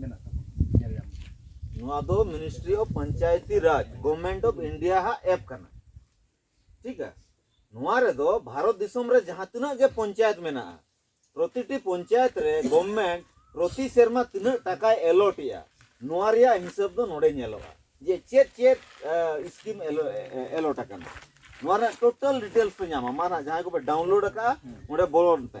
ᱢᱮᱱᱟᱜ ᱛᱟᱵᱚᱱᱟ ᱧᱮᱞ ᱧᱟᱢ ᱱᱚᱣᱟ ᱫᱚ ministry of Panchayati Raj government of India ᱦᱟᱜ ᱮᱯ ᱠᱟᱱᱟ ᱴᱷᱤᱠ ᱟ ᱱᱚᱣᱟ ᱨᱮᱫᱚ ᱵᱷᱟᱨᱚᱛ ᱫᱤᱥᱚᱢ ᱨᱮ ᱡᱟᱦᱟᱸ ᱛᱤᱱᱟᱹᱜ ᱜᱮ ᱯᱚᱧᱪᱟᱭᱮᱛ ᱢᱮᱱᱟᱜᱼᱟ ᱯᱨᱚᱛᱤᱴᱤ ᱯᱚᱧᱪᱟᱭᱮᱛ ᱨᱮ ᱜᱚᱵᱷᱢᱮᱱᱴ ᱯᱨᱚᱛᱤ ᱥᱮᱨᱢᱟ ᱛᱤᱱᱟᱹᱜ ᱴᱟᱠᱟᱭ ᱮᱞᱚᱴ ᱮᱜᱼᱟ ᱱᱚᱣᱟ ᱨᱮᱭᱟᱜ ᱦᱤᱥᱟᱹᱵ ᱫᱚ ᱱᱚᱰᱮ ᱧᱮᱞᱚᱜᱼᱟ ᱡᱮ ᱪᱮᱫ ᱪᱮᱫ ᱥᱠᱤᱢ ᱮᱞᱚᱴ ᱟᱠᱟᱱᱟ ᱱᱚᱣᱟ ᱨᱮᱱᱟᱜ ᱴᱳᱴᱟᱞ ᱰᱤᱴᱮᱞᱥ ᱯᱮ ᱧᱟᱢᱟ ᱢᱟ ᱱᱟᱜ ᱡᱟᱦᱟᱸᱭ ᱠᱚᱯᱮ ᱰᱟᱣᱩᱱᱞᱳᱰ ᱟᱠᱟᱫᱼᱟ ᱚᱸᱰᱮ ᱵᱚᱞᱚᱱ ᱯᱮ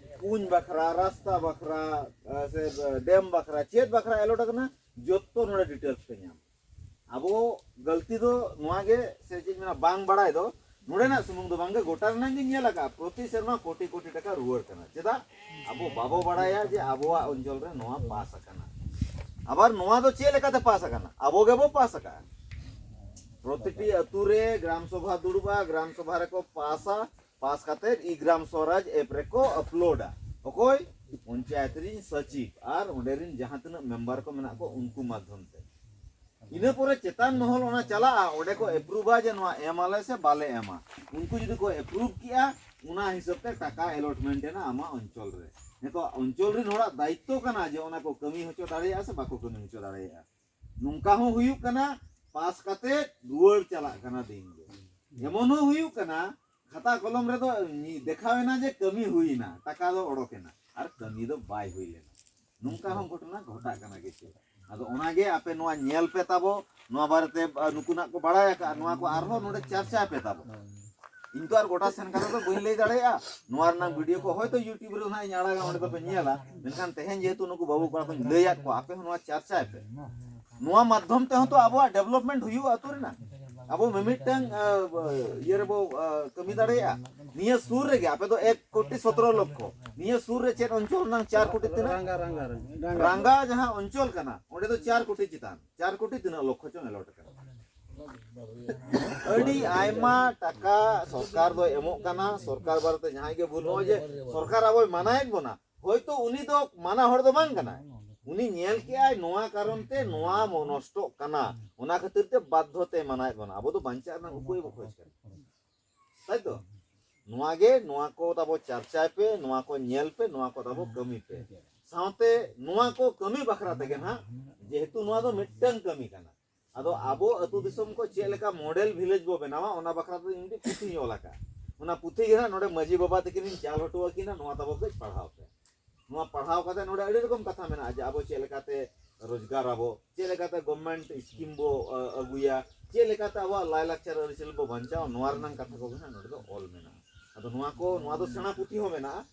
ᱠᱩᱧ ᱵᱟᱠᱷᱨᱟ ᱨᱟᱥᱛᱟ ᱵᱟᱠᱷᱨᱟ ᱥᱮ ᱰᱮᱢ ᱵᱟᱠᱷᱨᱟ ᱪᱮᱫ ᱵᱟᱠᱷᱨᱟ ᱮᱞᱚᱴ ᱟᱠᱟᱱᱟ ᱡᱚᱛᱚ ᱱᱚᱰᱮ ᱰᱤᱴᱮᱞᱥ ᱯᱮ ᱧᱟᱢ ᱟᱵᱚ ᱜᱟᱹᱞᱛᱤ ᱫᱚ ᱱᱚᱣᱟ ᱜᱮ ᱥᱮ ᱪᱮᱫ ᱢᱮᱱᱟ ᱵᱟᱝ ᱵᱟᱲᱟᱭ ᱫᱚ ᱱᱚᱰᱮᱱᱟᱜ ᱥᱩᱢᱩᱝ ᱫᱚ ᱵᱟᱝᱜᱮ ᱜᱚᱴᱟ ᱨᱮᱱᱟᱜ ᱜᱮ ᱧᱮᱞ ᱟᱠᱟᱫᱼᱟ ᱯᱨᱚᱛᱤ ᱥᱮᱨᱢᱟ ᱠᱳᱴᱤ ᱠᱳᱴᱤ ᱴᱟᱠᱟ ᱨᱩᱣᱟᱹᱲ ᱠᱟᱱᱟ ᱪᱮᱫᱟᱜ ᱟᱵᱚ ᱵᱟᱵᱚ ᱵᱟᱲᱟᱭᱟ ᱡᱮ ᱟᱵᱚᱣᱟᱜ ᱚᱧᱪᱚᱞ ᱨᱮ ᱱᱚᱣᱟ ᱯᱟᱥ ᱟᱠᱟᱱᱟ ᱟᱵᱟᱨ ᱱᱚᱣᱟ ᱫᱚ ᱪᱮᱫ ᱞᱮᱠᱟᱛᱮ ᱯᱟᱥ ᱟᱠᱟᱱᱟ ᱟᱵᱚ ᱜᱮᱵᱚ ᱯᱟᱥ ᱟᱠᱟᱫᱼᱟ ᱯᱨᱚᱛᱤᱴᱤ ᱟᱹᱛᱩ ᱨᱮ ᱜᱨᱟᱢ ᱥᱚᱵᱷᱟ ᱫᱩᱲᱩᱵᱼᱟ ᱜᱨᱟᱢ ᱥᱚᱵᱷᱟ ᱨᱮᱠᱚ ᱯᱟᱥᱟ ᱯᱟᱥ ᱠᱟᱛᱮ ᱤ-ᱜᱨᱟᱢ ᱥᱚᱨᱟᱡᱽ ᱮᱯ ᱨᱮᱠᱚ ᱟᱯᱞᱳᱰᱟ᱾ ᱚᱠᱚᱭ? ᱯᱚᱧᱪᱟᱭᱮᱛ ᱨᱤᱱ ᱥᱚᱪᱤᱵᱽ ᱟᱨ ᱚᱸᱰᱮ ᱨᱤᱱ ᱡᱟᱦᱟᱸ ᱛᱤᱱᱟᱹᱜ ᱢᱮᱢᱵᱟᱨ ᱠᱚ ᱢᱮᱱᱟᱜ ᱠᱚ ᱩᱱᱠᱩ ᱢᱟᱫᱷᱭᱚᱢ ᱛᱮ᱾ ᱤᱱᱟᱹ ᱯᱚᱨᱮ ᱪᱮᱛᱟᱱ ᱢᱚᱦᱚᱞ ᱚᱱᱟ ᱪᱟᱞᱟᱜᱼᱟ, ᱚᱸᱰᱮ ᱠᱚ ᱮᱯᱨᱩᱵᱷᱟ ᱡᱮ ᱱᱚᱣᱟ ᱮᱢ ᱟᱞᱮ ᱥᱮ ᱵᱟᱞᱮ ᱮᱢᱟ᱾ ᱩᱱᱠᱩ ᱡᱩᱫᱤ ᱠᱚ ᱮᱯᱨᱩᱵᱷ ᱠᱮᱜᱼᱟ, ᱚᱱᱟ ᱦᱤᱥᱟᱹᱵᱽ ᱛᱮ ᱴᱟᱠᱟ ᱮᱞᱚᱴᱢᱮᱱᱴ ᱮᱱᱟ ᱟᱢᱟᱜ ᱚᱧᱪᱚᱞ ᱨᱮ᱾ ᱱᱤᱛᱚᱜ ᱚᱧᱪᱚᱞ ᱨᱤᱱ ᱦᱚᱲᱟᱜ ᱫᱟᱭᱤᱛᱛᱚ ᱠᱟᱱᱟ ᱡᱮ ᱚᱱᱟ ᱠᱚ ᱠᱟᱹᱢᱤ ᱦᱚᱪᱚ ᱫᱟᱲᱮᱭᱟᱜᱼᱟ ᱥᱮ ᱵᱟᱠᱚ ᱠᱟᱹᱢᱤ ᱦᱚᱪᱚ ᱫᱟᱲᱮᱭᱟᱜᱼᱟ᱾ ᱱᱚᱝᱠᱟ ᱦᱚᱸ ᱦᱩᱭᱩᱜ ᱠᱟᱱᱟ ᱯᱟᱥ ᱠᱟᱛᱮ ᱨᱩᱣᱟᱹᱲ ᱪᱟᱞᱟᱜ ᱠᱟᱱᱟ ᱫᱤᱱ ᱜᱮ ᱮᱢᱚᱱ ᱦᱚᱸ ᱦᱩᱭᱩᱜ ᱠᱟᱱᱟ ᱠᱷᱟᱛᱟ ᱠᱚᱞᱚᱢ ᱨᱮᱫᱚ ᱫᱮᱠᱷᱟᱣ ᱮᱱᱟ ᱡᱮ ᱠᱟᱹᱢᱤ ᱦᱩᱭᱱᱟ ᱴᱟᱠᱟ ᱫᱚ ᱚᱰᱚᱠ ᱮᱱᱟ ᱟᱨ ᱠᱟᱹᱢᱤ ᱫᱚ ᱵᱟᱭ ᱦᱩᱭ ᱞᱮᱱᱟ ᱱᱚᱝᱠᱟ ᱦᱚᱸ ᱜᱷᱚᱴᱚᱱᱟ ᱜᱷᱚᱴᱟᱜ ᱠᱟᱱᱟ ᱠᱤᱪᱷᱩ ᱟᱫᱚ ᱚᱱᱟᱜᱮ ᱟᱯᱮ ᱱᱚᱣᱟ ᱧᱮᱞ ᱯᱮ ᱛᱟᱵᱚ ᱱᱚᱣᱟ ᱵᱟᱨᱮᱛᱮ ᱱᱩᱠᱩᱱᱟᱜ ᱠᱚ ᱵᱟᱲᱟᱭ ᱟᱠᱟᱫᱼᱟ ᱱᱚᱣᱟ ᱠᱚ ᱟᱨᱦᱚᱸ ᱱᱚᱰᱮ ᱪᱟᱨᱪᱟᱭ ᱯᱮ ᱛᱟᱵᱚ ᱤᱧ ᱛᱚ ᱟᱨ ᱜᱚᱴᱟ ᱥᱮᱱ ᱠᱟᱛᱮ ᱫᱚ ᱵᱟᱹᱧ ᱞᱟᱹᱭ ᱫᱟᱲᱮᱭᱟᱜᱼᱟ ᱱᱚᱣᱟ ᱨᱮᱱᱟᱜ ᱵᱷᱤᱰᱤᱭᱳ ᱠᱚ ᱦᱚᱭᱛᱚ ᱤᱭᱩᱴᱩᱵᱽ ᱨᱮ ᱦᱟᱸᱜ ᱤᱧ ᱟᱲᱟᱜᱟ ᱚᱸᱰᱮ ᱫᱚᱯᱮ ᱧᱮᱞᱟ ᱢᱮᱱᱠᱷᱟᱱ ᱛᱮᱦᱮᱧ ᱡᱮᱦᱮᱛᱩ ᱱᱩᱠᱩ ᱵᱟᱹᱵᱩ ᱠᱚᱲᱟ ᱠᱚᱧ ᱞᱟᱹᱭᱟᱫ ᱠᱚᱣᱟ ᱟᱯᱮ ᱦᱚᱸ ᱱᱚᱣᱟ ᱪᱟᱨᱪᱟᱭ ᱯᱮ ᱱᱚᱣᱟ ᱢᱟᱫᱽᱫᱷᱚᱢ ᱛᱮᱦᱚᱸ ᱛᱚ ᱟᱵᱚᱣᱟᱜ ᱰᱮᱵᱷᱞᱚᱯᱢᱮᱱᱴ ᱦᱩᱭᱩᱜᱼᱟ ᱟᱹᱛᱩ ᱨᱮᱱᱟᱜ ᱟᱵᱚ ᱢᱤᱢᱤᱫᱴᱟᱝ ᱤᱭᱟᱹ ᱨᱮᱵᱚ ᱠᱟᱹᱢᱤ ᱫᱟᱲᱮᱭᱟᱜᱼᱟ ᱱᱤᱭᱟᱹ ᱥᱩᱨ ᱨᱮᱜᱮ ᱟᱯᱮ ᱫᱚ ᱮᱠ ᱠᱳᱴᱤ ᱥᱚᱛᱨᱚ ᱞᱚᱠᱠᱷᱚ ᱱᱤᱭᱟᱹ ᱥᱩᱨ ᱨᱮ ᱪᱮᱫ ᱚᱧᱪᱚᱞ ᱨᱮᱱᱟᱝ ᱪᱟᱨ ᱠᱳᱴᱤ ᱛᱤᱱᱟᱹᱜ ᱨᱟᱝᱜᱟ ᱡᱟᱦᱟᱸ ᱚᱧᱪᱚᱞ ᱠᱟᱱᱟ ᱚᱸᱰᱮ ᱫᱚ ᱪᱟᱨ ᱠᱳᱴᱤ ᱪᱮᱛᱟᱱ ᱪᱟᱨ ᱠᱳᱴᱤ ᱛᱤᱱᱟᱹᱜ ᱞᱚᱠᱠᱷᱚ ᱪᱚᱝ ᱮᱞᱚᱴ ᱠᱟᱱᱟ ᱟᱹᱰᱤ ᱟᱭᱢᱟ ᱴᱟᱠᱟ ᱥᱚᱨᱠᱟᱨ ᱫᱚᱭ ᱮᱢᱚᱜ ᱠᱟᱱᱟ ᱥᱚᱨᱠᱟᱨ ᱵᱟᱨᱮᱛᱮ ᱡᱟᱦᱟᱸᱭ ᱜᱮ ᱵᱷᱩᱞ ᱱᱚᱜᱼᱚᱭ ᱡᱮ ᱥᱚᱨᱠᱟᱨ ᱟᱵᱚᱭ ᱢᱟᱱᱟᱭᱮᱫ ᱵᱚᱱᱟ ᱦᱚᱭᱛᱳ ᱩᱱᱤ ᱫᱚ ᱢᱟᱱᱟ ᱦᱚᱲ ᱫᱚ ᱵᱟᱝ ᱠᱟᱱᱟᱭ ᱩᱱᱤ ᱧᱮᱞ ᱠᱮᱜᱼᱟᱭ ᱱᱚᱣᱟ ᱠᱟᱨᱚᱱ ᱛᱮ ᱱᱚᱣᱟ ᱱᱚᱥᱴᱚᱜ ᱠᱟᱱᱟ ᱚᱱᱟ ᱠᱷᱟᱹᱛᱤᱨ ᱛᱮ ᱵᱟᱫᱽᱫᱷᱚ ᱛᱮ ᱢᱟᱱᱟᱭᱮᱫ ᱵᱚᱱᱟ ᱟᱵᱚ ᱫᱚ ᱵᱟᱧᱪᱟᱜ ᱨᱮᱱᱟᱜ ᱩᱯᱟᱹᱭ ᱵᱚ ᱠᱷᱚᱡᱽ ᱠᱟᱱᱟ ᱛᱟᱭ ᱛᱚ ᱱᱚᱣᱟ ᱜᱮ ᱱᱚᱣᱟ ᱠᱚ ᱛᱟᱵᱚ ᱪᱟᱨᱪᱟᱭ ᱯᱮ ᱱᱚᱣᱟ ᱠᱚ ᱧᱮᱞ ᱯᱮ ᱱᱚᱣᱟ ᱠᱚ ᱛᱟᱵᱚ ᱠᱟᱹᱢᱤ ᱯᱮ ᱥᱟᱶᱛᱮ ᱱᱚᱣᱟ ᱠᱚ ᱠᱟᱹᱢᱤ ᱵᱟᱠᱷᱨᱟ ᱛᱮᱜᱮ ᱱᱟᱦᱟᱜ ᱡᱮᱦᱮᱛᱩ ᱱᱚᱣᱟ ᱫᱚ ᱢᱤᱫᱴᱟᱝ ᱠᱟᱹᱢᱤ ᱠᱟᱱᱟ ᱟᱫᱚ ᱟᱵᱚ ᱟᱹᱛᱩ ᱫᱤᱥᱚᱢ ᱠᱚ ᱪᱮᱫ ᱞᱮᱠᱟ ᱢᱚᱰᱮᱞ ᱵᱷᱤᱞᱮᱡᱽ ᱵᱚ ᱵᱮᱱᱟᱣᱟ ᱚᱱᱟ ᱵᱟᱠᱷᱨᱟ ᱛᱮ ᱤᱧ ᱢᱤᱫᱴᱤᱡ ᱯᱩᱛᱷᱤᱧ ᱚᱞ ᱟᱠᱟᱫᱼᱟ ᱚᱱᱟ ᱯᱩᱛᱷᱤ ᱜᱮ ᱦᱟᱸᱜ ᱱᱚᱰᱮ ᱢᱟᱺᱡᱷᱤ ᱵᱟᱵᱟ ᱛᱟᱹᱠᱤᱱᱤᱧ ᱪᱟᱞ ᱦᱚᱴᱚ ᱟᱹᱠᱤᱱᱟ ᱱᱚᱣᱟ ᱛᱟᱵᱚ ᱠᱟᱹᱡ ᱯᱟᱲᱦᱟᱣ ᱯᱮ ᱱᱚᱣᱟ ᱯᱟᱲᱦᱟᱣ ᱠᱟᱛᱮ ᱱᱚᱰᱮ ᱟᱹᱰᱤ ᱨᱚᱠᱚᱢ ᱠᱟᱛᱷᱟ ᱢᱮᱱᱟᱜᱼᱟ ᱡᱮ ᱟᱵᱚ ᱪᱮᱫ ᱞᱮᱠᱟᱛᱮ ᱨᱳᱡᱽᱜᱟᱨ ᱟᱵᱚ ᱪᱮᱫ ᱞᱮᱠᱟᱛᱮ ᱜᱚᱵᱷᱢᱮᱱᱴ ᱥᱠᱤᱢ ᱵᱚ ᱟᱹᱜᱩᱭᱟ ᱪᱮᱫ ᱞᱮᱠᱟᱛᱮ ᱟᱵᱚᱣᱟᱜ ᱞᱟᱭᱞᱟᱠᱪᱟᱨ ᱟᱹᱨᱤᱪᱟᱹᱞᱤ ᱵᱚ ᱵᱟᱧᱪᱟᱣᱟ ᱱᱚᱣᱟ ᱨᱮᱱᱟᱜ ᱠᱟᱛᱷᱟ ᱠᱚᱜᱮ ᱦᱟᱸᱜ ᱱᱚᱰᱮ ᱫᱚ ᱚᱞ ᱢᱮᱱᱟᱜᱼᱟ ᱟᱫᱚ ᱱᱚᱣᱟ ᱠᱚ ᱱᱚᱣᱟ ᱫᱚ ᱥᱮᱬᱟ ᱯᱩᱛᱷᱤ ᱦᱚᱸ ᱢᱮᱱᱟᱜᱼᱟ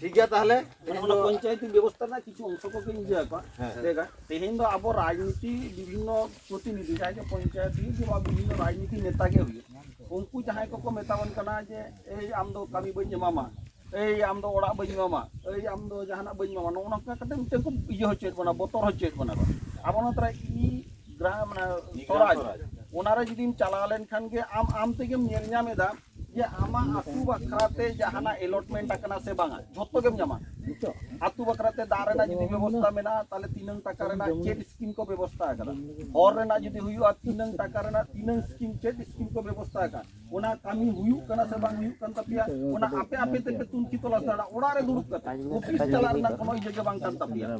ᱴᱷᱤᱠ ᱜᱮᱭᱟ ᱛᱟᱦᱚᱞᱮ ᱚᱱᱟ ᱯᱚᱧᱪᱟᱭᱮᱛᱤ ᱵᱮᱵᱚᱥᱛᱟ ᱨᱮᱱᱟᱜ ᱠᱤᱪᱷᱩ ᱚᱝᱥᱚ ᱠᱚᱜᱮ ᱤᱭᱟᱹ ᱟᱠᱚ ᱞᱟᱹᱭᱟ ᱛᱮᱦᱮᱧ ᱫᱚ ᱟᱵᱚ ᱨᱟᱡᱽᱱᱤᱛᱤ ᱵᱤᱵᱷᱤᱱᱱᱚ ᱯᱨᱚᱛᱤᱱᱤᱫᱷᱤ ᱡᱟᱦᱟᱸᱭ ᱜᱮ ᱯᱚᱧᱪᱟᱭᱮᱛ ᱦᱩᱭᱩᱜ ᱵᱟ ᱵᱤᱵᱷᱤᱱᱱᱚ ᱨᱟᱡᱽᱱᱤᱛᱤ ᱱᱮᱛᱟ ᱜᱮ ᱦᱩᱭᱩᱜ ᱩᱱᱠᱩ ᱡᱟᱦᱟᱸᱭ ᱠᱚᱠᱚ ᱢᱮᱛᱟᱵᱚᱱ ᱠᱟᱱᱟ ᱡᱮ ᱮᱭ ᱟᱢ ᱫᱚ ᱠᱟᱹᱢᱤ ᱵᱟᱹᱧ ᱮᱢᱟᱢᱟ ᱮᱭ ᱟᱢ ᱫᱚ ᱚᱲᱟᱜ ᱵᱟᱹᱧ ᱮᱢᱟᱢᱟ ᱮᱭ ᱟᱢ ᱫᱚ ᱡᱟᱦᱟᱱᱟᱜ ᱵᱟᱹᱧ ᱮᱢᱟᱢᱟ ᱱᱚᱜᱼᱚ ᱱᱚᱝᱠᱟ ᱠᱟᱛᱮ ᱢᱤᱫᱴᱮᱱ ᱠᱚ ᱤᱭᱟᱹ ᱦᱚᱪᱚᱭᱮᱫ ᱵᱚᱱᱟ ᱵᱚᱛᱚᱨ ᱦᱚᱪᱚᱭᱮᱫ ᱵᱚᱱᱟ ᱠᱚ ᱟᱵᱚ ᱱᱚᱣᱟ ᱛᱟᱨᱟ ᱤ ᱜᱨᱟᱢ ᱥᱚᱨᱟᱡᱽ ᱚᱱᱟᱨᱮ ᱡᱩᱫᱤᱢ ᱪᱟᱞᱟᱣ ᱞᱮᱱᱠᱷᱟᱱ ᱜᱮ ᱟᱢ ᱟᱢ ᱛᱮᱜᱮᱢ ᱧᱮᱞ ᱧᱟᱢ ᱮᱫᱟ ᱡᱮ ᱟᱢᱟᱜ ᱟᱹᱛᱩ ᱵᱟᱠᱷᱨᱟ ᱛᱮ ᱡᱟᱦᱟᱱᱟᱜ ᱮᱞᱚᱴᱢᱮᱱᱴ ᱟᱠᱟᱱᱟ ᱥᱮ ᱵᱟᱝᱟ ᱡᱷᱚᱛᱚ ᱜᱮᱢ ᱧᱟᱢᱟ ᱟᱹᱛᱩ ᱵᱟᱠᱷᱨᱟ ᱛᱮ ᱫᱟᱜ ᱨᱮᱱᱟᱜ ᱡᱩᱫᱤ ᱵᱮᱵᱚᱥᱛᱟ ᱢᱮᱱᱟᱜᱼᱟ ᱛᱟᱦᱚᱞᱮ ᱛᱤᱱᱟᱹᱝ ᱴᱟᱠᱟ ᱨᱮᱱᱟᱜ ᱪᱮᱫ ᱥᱠᱤᱢ ᱠᱚ ᱵᱮᱵᱚᱥᱛᱟ ᱟᱠᱟᱫᱟ ᱦᱚᱨ ᱨᱮᱱᱟᱜ ᱡᱩᱫᱤ ᱦᱩᱭᱩᱜᱼᱟ ᱛᱤᱱᱟᱹᱝ ᱴᱟᱠᱟ ᱨᱮᱱᱟᱜ ᱛᱤᱱᱟᱹᱝ ᱥᱠᱤᱢ ᱪᱮᱫ ᱥᱠᱤᱢ ᱠᱚ ᱵᱮᱵᱚᱥᱛᱟ ᱟᱠᱟᱫᱟ ᱚᱱᱟ ᱠᱟᱹᱢᱤ ᱦᱩᱭᱩᱜ ᱠᱟᱱᱟ ᱥᱮ ᱵᱟᱝ ᱦᱩᱭᱩᱜ ᱠᱟᱱ ᱛᱟᱯᱮᱭᱟ ᱚᱱᱟ ᱟᱯᱮ ᱟᱯᱮ ᱛᱮᱯᱮ ᱛᱩᱱᱠᱷᱤ ᱛᱚᱞᱟᱥ ᱫᱟᱲᱮᱭᱟᱜᱼᱟ ᱚᱲᱟᱜ ᱨᱮ ᱫᱩᱲᱩᱵ ᱠᱟᱛᱮ ᱚᱯᱷᱤᱥ ᱪᱟᱞᱟᱜ ᱨᱮᱱᱟᱜ ᱠᱳᱱᱳ ᱤᱭᱟᱹ ᱜᱮ ᱵᱟᱝ ᱠᱟᱱ ᱛᱟᱯᱮᱭᱟ